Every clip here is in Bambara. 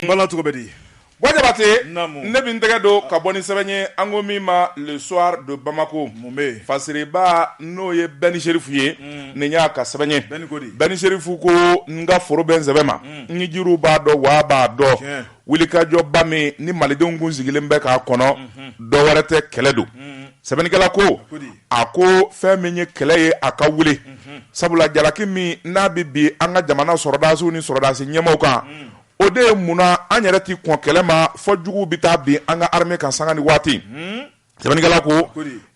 Bala cogo bɛ di wa Jabatɛ ne bɛ n tɛgɛ don ka bɔ ni sɛbɛn ye an ko min ma Le Soir de Bamako mun bɛ fasiriba n'o ye Bɛni Sherifu ye nin y'a ka sɛbɛn ye Bɛni Sherifu ko n ka foro bɛ n sɛbɛn ma n jiriw b'a dɔn wa b'a dɔn wulikajɔba min ni malidenw kun sigilen bɛ k'a kɔnɔ dɔ wɛrɛ tɛ kɛlɛ don sɛbɛnnikɛla ko a ko fɛn min ye kɛlɛ ye a ka wuli sabula jalaki min n'a bɛ bin an ka jamana sɔrɔdasiw ni sɔrɔdasi ɲɛmaaw kan o de ye munna an yɛrɛ tɛ kɔn kɛlɛ ma fɔ juguw bɛ taa bin an ka armée kan sanga ni waati sɛbɛnnikɛla ko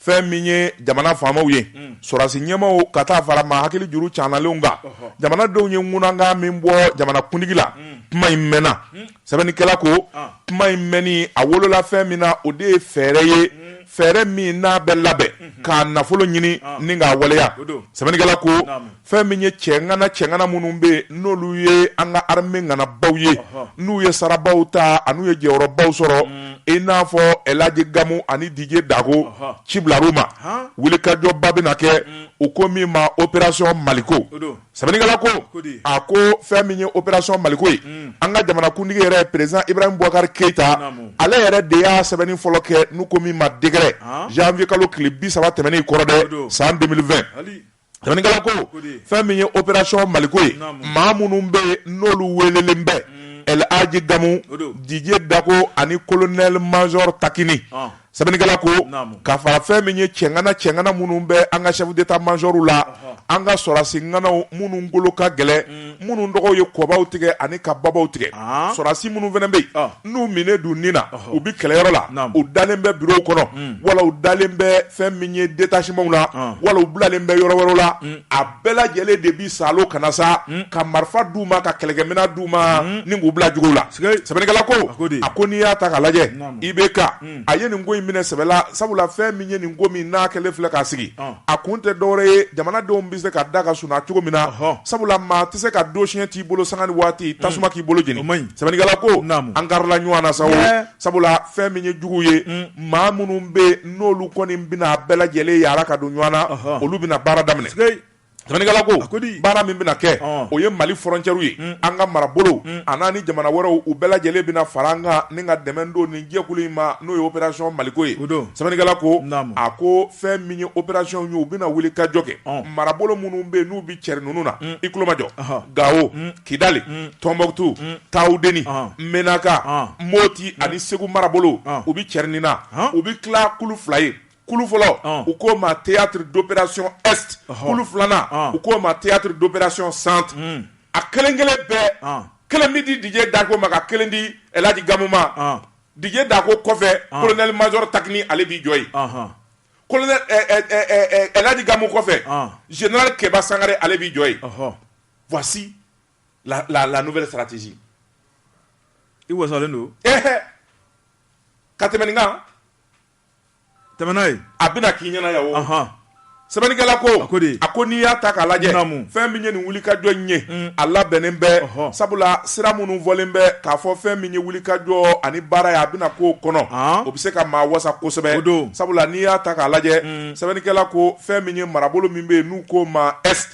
fɛn min ye jamana faamaw ye sɔrɔdasi ɲɛmaaw ka taa fara maa hakili juru caanalenw kan jamanadenw ye ŋunankan min bɔ jamana kuntigi la kuma in mɛnna sɛbɛnnikɛla ko kuma in mɛnni a wolola fɛn min na o de ye fɛɛrɛ ye mm. fɛɛrɛ min n'a bɛ labɛn mm-hmm. k'a nafolo ɲini ni k'a waleya sɛbɛnnikɛla ko fɛn min ye cɛŋana cɛŋana minnu bɛ yen n'olu ye an ka armée ŋanabaw ye n'u ye sarabaw ta an'u ye jɔyɔrɔbaw sɔrɔ mm. i n'a fɔ Elaji Gamu ani Didier Dako ci bilar'u ma wulikajɔba bɛna kɛ mm. u ko min ma opération Maliko Sɛbɛnnikɛla ko, ko di? a ko fɛn min ye opération Maliko ye, un, an ka jamanakuntigi yɛrɛ président Ibrahim Boubacar Keita, naamu, ale yɛrɛ de y'a sɛbɛnni fɔlɔ kɛ n'u ko min ma décret, an, janvier kalo tile 30 tɛmɛnen in kɔrɔ dɛ, o don, san 2020, ali, sɛbɛnnikɛla ko, ko di? fɛn min ye opération Maliko ye, naamu, maa minnu bɛ yen n'olu weelelen bɛ, un, El Hadji Gamu, o don, Didier Dako ani colonel major Takini, ɔn. sɛbɛnnikɛla ko ka fara fɛn min ye cɛŋana cɛŋana minnu bɛ an ka chef d'état majorw la an ka sɔrɔdasi ŋanaw minnu golo ka gɛlɛn minnu tɔgɔw ye kɔbaw tigɛ ani ka babaw tigɛ sɔrɔdasi minnu fana bɛ yen n'u minɛ don nin na u bɛ kɛlɛyɔrɔ la u dalen bɛ birow kɔnɔ wala u dalen bɛ fɛn min ye détachementw na wala u bilalen bɛ yɔrɔ wɛrɛ la bɛɛ lajɛlen de bi salo kana sa ka marifa d'u ma ka kɛlɛkɛminɛn d'u ma ni k'u bila jugu la sɛbɛnnikɛla ko a ko n'i y'a ta k'a lajɛ IBK a ye nin ko in minɛ sɛbɛ la sabula fɛn min ye nin ko min n'a kɛlen filɛ k'a sigi a kun tɛ dɔwɛrɛ ye jamanadenw bɛ se ka da ka sunɔgɔ cogo min na sabula maa tɛ se ka donsiyɛn t'i bolo sanga ni waati tasuma k'i bolo jeni sɛbɛnnikɛla ko an karila ɲɔgɔn na sa sabula fɛn min ye juguw ye maa minnu bɛ n'olu kɔni bɛna bɛɛ lajɛlen yaala ka don ɲɔgɔn na olu bɛna baara daminɛ ko baara min bɛna kɛ o ye Mali frontièrew ye an ka marabolow a n'a ni jamana wɛrɛw u bɛɛ lajɛlen bɛna fara an kan ni ka dɛmɛ don nin jɛkulu in ma n'o ye opération Maliko ye don sɛbɛnnikɛla ko a ko fɛn min ye opération ye u bɛna wuli ka jɔ kɛ marabolo minnu bɛ n'u bɛ cɛri ninnu na i tulo majɔ Gawo Kidali Tombouctou tawudeni Menaka moti ani segu marabolo u bɛ cɛri nin na u bɛ tila kulu fila ye kulu fɔlɔ u k'o ma théâtre d'opération est kulu filanan u k'o ma théâtre d'opération centre a kelen kelen bɛɛ kelen bɛ di Didier Dacko ma ka kelen di El Hadj Gamou ma Didier Dacko kɔfɛ colonel major Takny ale b'i jɔ yen El Hadj Gamou kɔfɛ général kɛba sangare ale b'i jɔ ye Voici la, la, la nouvelle stratégie. I wasalen don. Ɛhɛ! Ka tɛmɛ nin kan. Tɛmɛ n'a ye. A bɛna k'i ɲɛna yan o. Ɔnhɔn. Sɛbɛnnikɛla ko. A ko de. A ko n'i y'a ta k'a lajɛ. Naamu. Fɛn min ye nin wulikajɔ in ye. Un. A labɛnnen bɛ. Ɔhɔ. Sabula sira minnu fɔlen bɛ k'a fɔ fɛn min ye wulikajɔ ani baara ye a bɛna k'o kɔnɔ. An. O bɛ se ka maa wasa kosɛbɛ. O don. Sabula n'i y'a ta k'a lajɛ. Un. Sɛbɛnnikɛla ko fɛn min ye marabolo min bɛ yen n'u k'o ma est.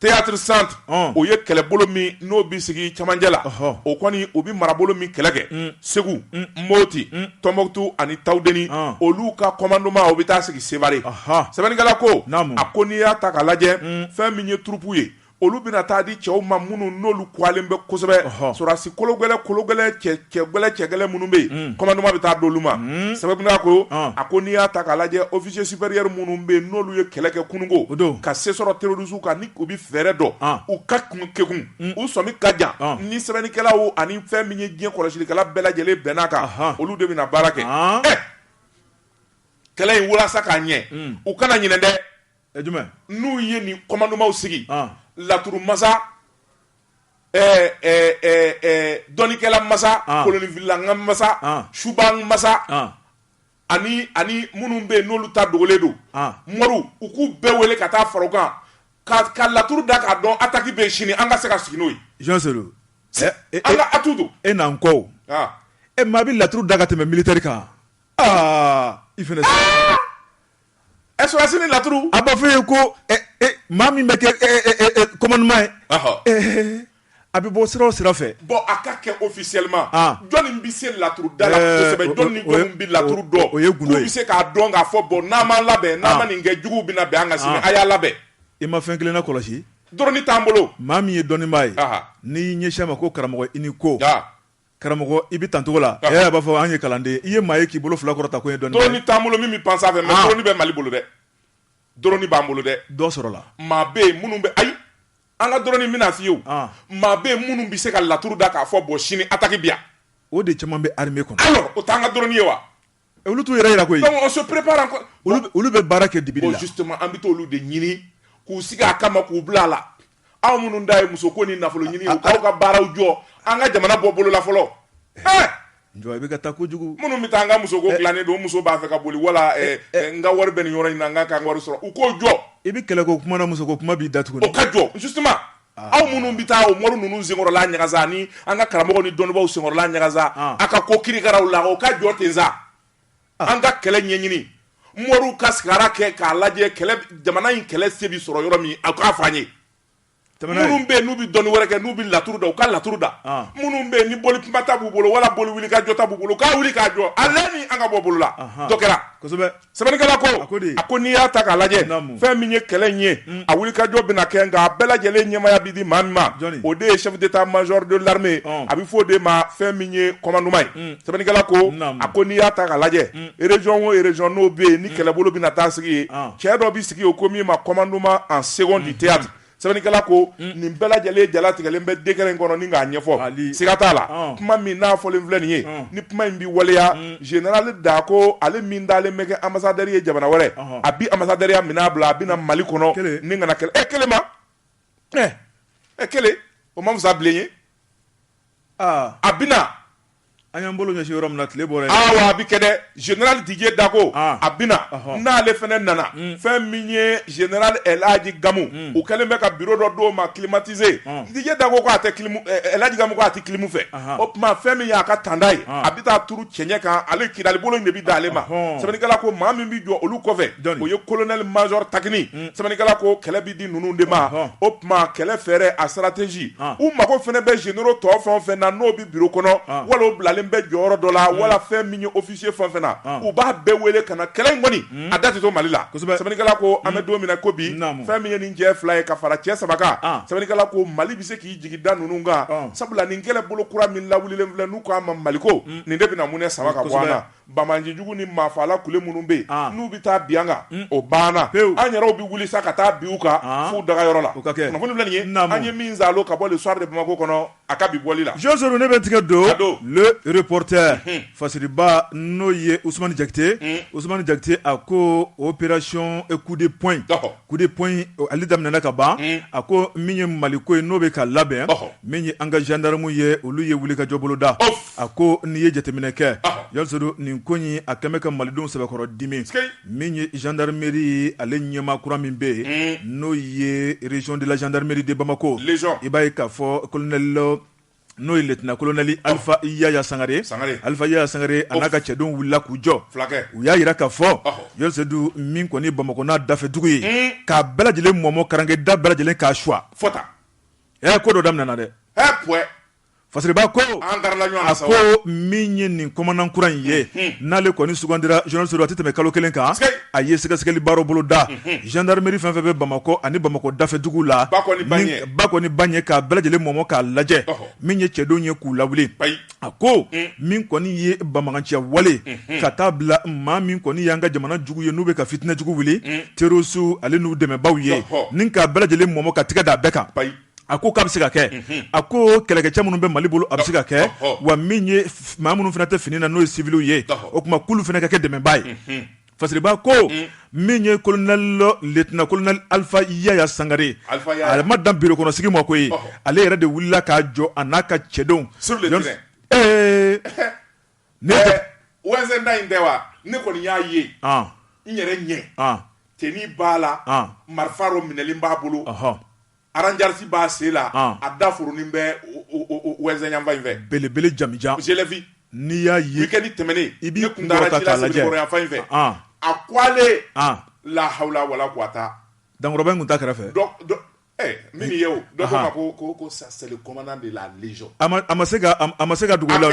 Théâtre centre ɔn o ye kɛlɛbolo min n'o bi sigi cɛmancɛ la ɔhɔ o kɔni o bi marabolo min kɛlɛ kɛ un Segu un Mopti un Tombouctou ani Tawdeni ɔn olu ka commandement o bi taa sigi Sévaré ɔhɔ sɛbɛnnikɛla ko naamu a ko n'i y'a ta k'a lajɛ un fɛn min ye troupe ye olu bɛna taa di cɛw ma minnu n'olu kuwalen bɛ kosɛbɛ ɔhɔ sɔrɔdasi kologɛlɛ kologɛlɛ cɛ Cɛ gɛlɛ cɛ gɛlɛ minnu bɛ yen commandement bɛ taa d'olu ma sɛbɛnnikɛla ko a ko n'i y'a ta k'a lajɛ officier supérieur minnu bɛ yen n'olu ye kɛlɛ kɛ kununko ka se sɔrɔ terroristew kan ni u bɛ fɛɛrɛ dɔn u ka kekun u sɔmi ka jan ni sɛbɛnnikɛlaw ani fɛn min ye diɲɛ kɔlɔsilikɛla bɛɛ lajɛlen bɛnn'a kan olu de bɛna baara kɛ kɛlɛ in walasa k'a ɲɛ u kana ɲinɛ dɛ n'u ye nin commandement sigi laturu masa dɔnnikɛla masa kolonfilila ka masa suba masa ani ani minnu bɛ yen n'olu ta dogolen don moriw u k'u bɛɛ wele ka taa fara u kan ka ka laturu da k'a dɔn attaque bɛ sini an ka se ka sigi n'o ye atu don e n'an kɔ e ma bɛ laturu da ka tɛmɛ militaire kan i E sɔrɔdasi ni laturu a b'a fɔ ye ko maa min bɛ kɛ commandement ye a bɛ bɔ sira o sira fɛ bon a ka kɛ officiellement jɔnni bɛ se laturu da la kosɛbɛ jɔnni bɛ laturu dɔn o ye bɛ se k'a dɔn k'a fɔ bon n'an m'an labɛn n'an ma nin kɛ jugu bɛna bin an kan sini a y'a labɛn i ma fɛn kelen na kɔlɔsi dɔrɔni t'an bolo maa min ye dɔnnibaa ye n'i ɲɛsin a ma ko karamɔgɔ i ni ko Karamɔgɔ i bɛ tancogo la a b'a fɔ an ye kalanden i ye maa ye k'i bolo fila kɔrɔta ko ye dɔrɔni t'an bolo min bɛ pan sanfɛ mais dɔrɔni bɛ Mali bolo dɛ dɔrɔni b'an bolo dɛ dɔ sɔrɔla maa bɛ yen minnu bɛ ayi an ka dɔrɔni bɛna f'i ye maa bɛ yen minnu bɛ se ka laturu da k'a fɔ bon sini attaque bɛ yan o de caman bɛ armée kɔnɔ alors o t'an ka dɔrɔni ye wa Olu t'u yɛrɛ jira koyi, donc on se prépare encore olu bɛ baara kɛ dibili la, bon justement an bɛ t'olu de ɲini k'u sigi a kama k'u bila a la, aw minnu dan ye muso ko ni nafolo ɲini ye, aw ka baaraw jɔ an ka jamana bɔ bolo la fɔlɔ, ɛɛ Jɔ i bɛ ka taa kojugu, minnu bɛ taa an ka muso ko dilannen don, o muso b'a fɛ ka boli wala n ka wari bɛ nin yɔrɔ in na n ka kan ka wari sɔrɔ u k'o jɔ, i bɛ kɛlɛ ko kuma na muso ko kuma b'i da tuguni, o ka jɔ justement Aw minnu bɛ taa o mori ninnu senkɔrɔla ɲagasa ni an ka karamɔgɔ ni dɔnnibaaw senkɔrɔla ɲagasa a ka ko kirikaraw la o ka jɔ ten sa an ka kɛlɛ ɲɛɲini moriw ka sigara kɛ k'a lajɛ jamana in kɛlɛ se bɛ sɔrɔ yɔrɔ min a k'a fɔ an ye minnu bɛ yen n'u bɛ dɔnni wɛrɛ kɛ n'u bɛ laturu da u ka laturu da minnu bɛ yen ni boli kumata b'u bolo wala boli wuli ka jɔta b'u bolo k'a wuli k'a jɔ a an ka bɔ bolo la kɛra sɛbɛnnikɛla ko a ko di a ko n'i y'a ta k'a lajɛ Naamu. fɛn min ye kɛlɛ in ye a wulikajɔ bɛna kɛ nka a bɛɛ lajɛlen ɲɛmaaya bɛ di maa min ma Jɔnni? o de ye chef d'état major de l'armée Ɔn. a bɛ fɔ o de ma fɛn min ye commandement ye sɛbɛnnikɛla ko Naamu. a ko n'i y'a ta k'a lajɛ région o région n'o bɛ yen ni kɛlɛbolo bɛna taa sigi yen Ɔn. cɛ dɔ bɛ sigi o ko min ma commandement en second du théâtre sɛbɛnnikɛla ko nin bɛɛ lajɛlen jalatigɛlen bɛ décret in kɔnɔ ni k'a ɲɛfɔ Mali siga t'a la ɔn kuma min n'a fɔlen filɛ nin ye ɔn ni kuma in bi waleya uun général Dako ale min dalen bɛ kɛ ambassadeur ye jamana wɛrɛ ɔnhɔn a bi ambassadeurya min'a bila a bɛ na Mali kɔnɔ kelen ni ŋana kɛlɛ ɛ kelen ma ɛ ɛ kelen o ma fisa bilen ye a bɛ na an y'an bolo ɲɛsi yɔrɔ min na tile bɔra o la a bɛ kɛ dɛ général Didier Dako a bɛ na n'ale fɛnɛ nana fɛn min ye général El Hadji Gamu u kɛlen bɛ ka bureau dɔ d'o ma climatisé Didier Dako ko a tɛ El Hadji Gamu ko a tɛ clim fɛ o tuma fɛn min ye a ka tanda ye a bɛ taa turu cɛɲɛ kan ale Kidali bolo in de bɛ d'ale ma sɛbɛnnikɛla ko maa min bɛ jɔ olu kɔfɛ o ye colonel major Takini sɛbɛnnikɛla ko kɛlɛ bɛ di ninnu de ma tuma kɛlɛ fɛɛrɛ a stratégie u mago fɛnɛ bɛ généraux tɔw fɛn fɛn na n'o bɛ bureau kɔnɔ wala o bilalen bɛ jɔyɔrɔ dɔ la wala fɛn min ye officier fɛn fɛn na u b'a bɛɛ wele ka na kɛlɛ in kɔni a da tɛ to mali la sɛbɛnnikɛla ko an bɛ don min na ko bi fɛn min ye nin cɛ fila ye ka fara cɛ saba kan sɛbɛnnikɛla ko mali bɛ se k'i jigi da ninnu kan sabula nin kɛlɛ bolo kura min lawulilen filɛ n'u k'a ma maliko nin de bɛna munɛ sama ka bɔ an na Banbaanci jugu ni maafaala kulu minnu bɛ yen n'u bɛ taa bin an kan o banna pewu an yɛrɛw bɛ wuli sa ka taa bin u kan f'u dagayɔrɔ la kunnafoni filɛ nin ye an ye min zalo ka bɔ Le Soir de Bamako kɔnɔ a ka bi bɔli la Joseph ne bɛ tigɛ don Le Reporter fasiriba n'o ye Ousmane Diakité Ousmane Diakité a ko opération coup de poing in Coup de poing in ale daminɛna ka ban, un, a ko min ye Mali ko ye n'o bɛ ka labɛn, ɔhɔ, min ye an ka gendarmes ye olu ye wulikajɔ bolo da, ouf, a ko n'i ye jateminɛ kɛ, ɔhɔ, Joseph nin ko in a kɛlen bɛ ka malidenw sɛbɛkɔrɔ dimi, sikei, min ye gendarmerie ale ɲɛmaa kura min bɛ yen, un, n'o ye région de la gendarmerie de Bamako, légion, i b'a ye k'a fɔ colonel n'o ye liyetinan kolonɛli alifa yaya sangare alifa yaya sangare a n'a ka cɛdenw wulila k'u jɔ u y'a yira k'a fɔ zenerali sedu min kɔni bamakɔ n'a dafɛdugu ye k'a bɛɛ lajɛlen mɔmɔ karankɛ da bɛɛ lajɛlen k'a suwa ɛ ko dɔ daminɛɛna dɛ fasiriba ko a ko min ye nin komandan kura in ye n'ale kɔni sugandira zenerali sedu a tɛ tɛmɛ kalo kelen kan a ye sɛgɛsɛgɛli baara boloda zandaramɛri fɛn fɛn bɛ bamakɔ ani bamakɔ dafɛdugu la ba kɔni ba ɲɛ k'a bɛɛ lajɛlen mɔmɔ k'a lajɛ min ye cɛdenw ye k'u lawuli a ko min kɔni ye banbaganciya wale k'a dabila maa min kɔni y'an ka jamana jugu ye n'u bɛ ka fitinɛ jugu wuli terorisiw ani n'u dɛmɛbagaw ye ni k'a bɛɛ lajɛlen mɔmɔ ka tɛgɛ da a bɛɛ kan a ko k'a bɛ se ka kɛ a ko kɛlɛkɛcɛ minnu bɛ mali bolo a bɛ se ka kɛ wa minnu fana tɛ fini na n'o ye siwiliw ye o tuma k'olu fana ka kɛ dɛmɛbaa ye Fasiriba ko min ye kolonɛli liyetinan kolonɛli alifa yaya sangare ale ma dan biro kɔnɔ sigi ma koyi ale yɛrɛ de wulila k'a jɔ a n'a ka cɛdenw ee ne wa in tɛ wa ne kɔni y'a ye n yɛrɛ ɲɛ tenue b'a la marifa dɔ minɛlen b'a bolo Aranjarisi b'a sen la a dafurunin bɛ yanfan in fɛ belebele jamanjan je l'ai vu n'i y'a ye weekend tɛmɛnen i b'i ne kun taara ci la yanfan in fɛ a ko ale lahawula wala kuwata dankɔrɔba in tun t'a kɛrɛfɛ min ye o dɔ ko n ma ko ça c'est le commandant de la légion a ma se ka dugu la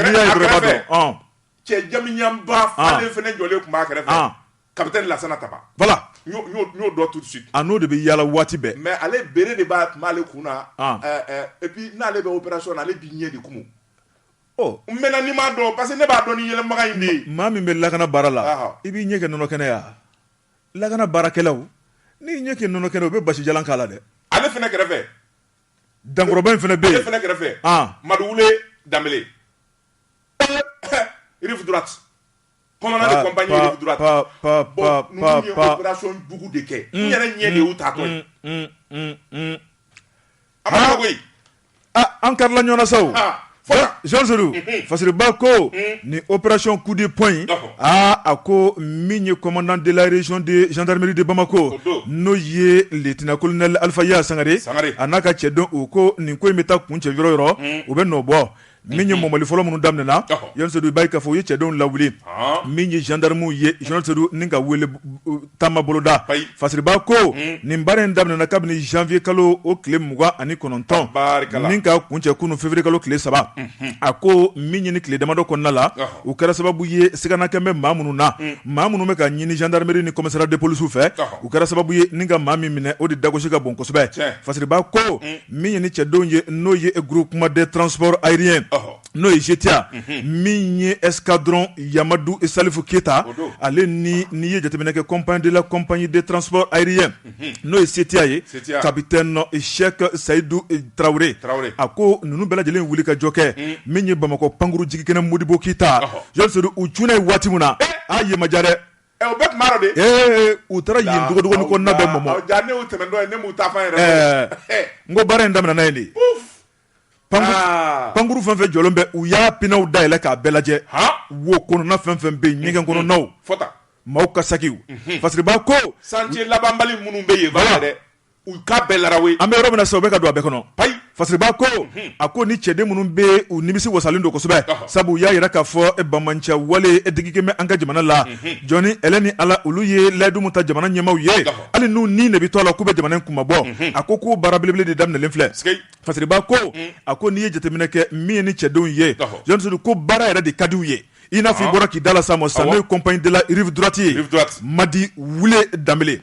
cɛ jamanjanba fana jɔlen tun b'a kɛrɛfɛ Kapitɛni lasana taba voilà n y'o dɔn tout de suite a n'o de bɛ yaala waati bɛɛ mais ale bere de b'a tun b'ale kun na et puis n'ale bɛ opération na ale b'i ɲɛ de kumu maintenant n'i m'a dɔn parce que ne b'a dɔn ni yɛlɛmaga in de maa min bɛ lakana baara la i b'i ɲɛ kɛ nɔnɔ kɛnɛ ye yan lakana baarakɛlaw n'i ɲɛ kɛ nɔnɔ kɛnɛ u bɛ basijalan k'a la dɛ ale fana kɛrɛfɛ dankɔrɔba in fana bɛ yen ale fana kɛrɛfɛ madu wule danbele an kari ɲɔgɔnsoba ko ni oereracon kudi p in aa a ko min ye kɔnɔndelazddri de bamakɔ n'o ye tina ko alifaya sangare sanga a n'a ka cɛ don u ko nin ko in bɛ taa kun cɛ yɔrɔ yɔrɔ u bɛ nɔ bɔ min ye mɔmɔli fɔlɔ minnu daminɛna zenerali sedu i b'a ye k'a fɔ u ye cɛdenw lawuli min ye zandaramuw ye zenerali sedu ni ka wele taama boloda fasiriba ko nin baara in daminɛna kabini zanwiye kalo o tile mugan ani kɔnɔntɔn ni ka kuncɛ kunun feburuye kalo tile saba a ko min ye nin tile damadɔ kɔnɔna la u kɛra sababu ye siganakɛ bɛ maa minnu na maa minnu bɛ ka ɲini zandaramɛri ni commissariat de police fɛ u kɛra sababu ye ni ka maa min minɛ o de dagosi ka bon kosɛbɛ fasiriba ko Min ye ni cɛdenw ye n'o ye groupement des transports aériens n'o ye GTA min ye escadron Yamadu salifu keyita ale ni n'i ye jateminɛ kɛ compa de la compagnie des transports aériens n'o ye CTA ye capitaine Cheick Seyidu tarawele a ko ninnu bɛɛ lajɛlen wuli ka jɔ kɛ min ye bamakɔ pankurun jigin kɛnɛ modibo keyita Jɔn Sodo u cunna yen waati min na a ye maja dɛ Ɛ u bɛɛ tun b'a dɔn de, ee u taara yen dogodogoni kɔnɔna bɛɛ mɔmɔ, awɔ jaa ne y'u tɛmɛntɔ ye ne m'u taa fan yɛrɛ dɔn, ɛɛ n ko baara in daminɛna yen de, puff, pankuru aa pankuru fɛn o fɛn jɔlen bɛ u y'a pinew dayɛlɛ k'a bɛɛ lajɛ, han, wo kɔnɔna fɛn o fɛn bɛ yen ɲɛgɛn kɔnɔnaw, fɔ tan, maaw ka sakiw, unhun, Fasiriba ko, chantier labanbali minnu bɛ yen, voilà U ka bɛɛ la an bɛ yɔrɔ min sisan u bɛ ka don a bɛɛ kɔnɔ ayi Fasiriba ko a ko ni cɛden minnu bɛ u nimisi wasalen don kosɛbɛ sabu u y'a jira k'a fɔ banbanciwale digikɛ bɛ an ka jamana la jɔn ni ala olu ye layidu min ta jamana ɲɛmaaw ye hali n'u ni de bɛ to a la k'u bɛ jamana kunmabɔ a ko k'o baara belebele de daminɛlen filɛ Fasiriba ko a ko n'i ye jateminɛ kɛ min ye ni cɛdenw ye Jɔn Sodo ko baara yɛrɛ de ka di u ye i n'a fɔ i bɔra k'i da la sa ma sisan n'o ye compagnie de la rive droite ye Madi Wule Danbele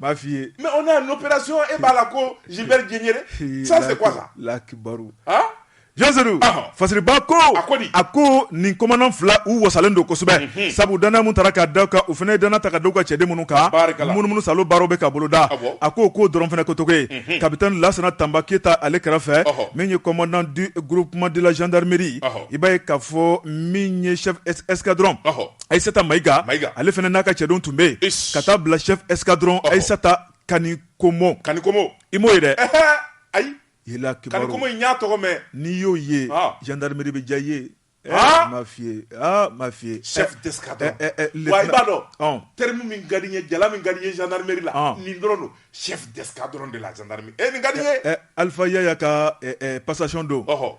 b'a f'i ye mais on a une opération e b'a la ko Gilbert Diendéré ça c'est quoi ça Allahu akibaru han Jɔn Sodo ɔhɔ fasiriba ko a ko di a ko nin komandan fila u wasalen don kosɛbɛ unhun sabu danaya min tara k'a da u kan u fana ye danaya ta ka da u ka cɛden minnu kan barikala munumunu salo baaraw bɛ ka boloda awɔ a ko k'o dɔrɔn fana ko cogo ye unhun capitaine Lasana Tanba Keyita ale kɛrɛfɛ ɔhɔ min ye commandant du groupement de la gendarmerie ɔhɔ i b'a ye k'a fɔ min ye chef es- escadron ɔhɔ ayisata Mayiga ale fana n'a ka cɛdenw tun bɛ yen ka taa bila chef escadron ayisata Kanikomo Kanikomo i m'o ye dɛ ayi n y'a tɔgɔ mɛn n'i y'o ye gendarmerie bɛ diya i ye m'a f'i ye chef d'escadron i b'a dɔn terme min ka di n ye jala min ka di n ye gendarmerie la nin dɔrɔn don chef d'escadron de la gendarmerie Alifa ka passation don o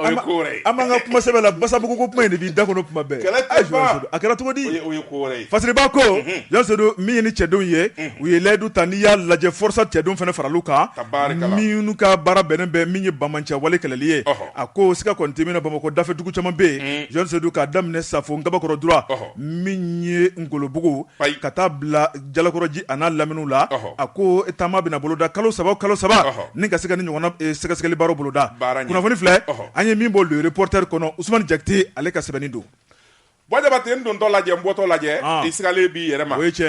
O ye ko wɛrɛ ye. An b'an ka kuma sɛbɛ la basabugu ko kuma in de b'i da kɔnɔ kuma bɛɛ. Kɛlɛ tɛ ban. Ayi Jɔn Sodo a kɛra cogo di? O ye o ye ko wɛrɛ ye. Fasiriba ko. Unhun. Jɔn Sodo min ye ni cɛdenw ye. Unhun. U ye layidu ta n'i y'a lajɛ FORSAT cɛdenw fana farala u kan. Tabaarikala. Minnu ka baara bɛnnen bɛ min ye banbanciwale kɛlɛli ye. Ɔhɔ. A ko siga kɔni tɛ min na Bamakɔ dafɛ dugu caman bɛ yen. Un. Jɔn Sodo k'a daminɛ Safo Nkabakɔrɔ droit. Ɔhɔ. Min ye Ngolobugu. Payi. Ka taa bila jalakɔrɔji a n'a laminiw la a ko taama bɛna boloda kalo saba o kalo saba ni ka se ka nin ɲɔgɔnna sɛgɛsɛgɛli baaraw boloda kunnafoni filɛ an ye min bɔ Le Reporter kɔnɔ Usumani Jakite ale ka sɛbɛnni don Jabate n dontɔ lajɛ n bɔtɔ lajɛ i sigilen b'i yɛrɛ ma o ye cɛ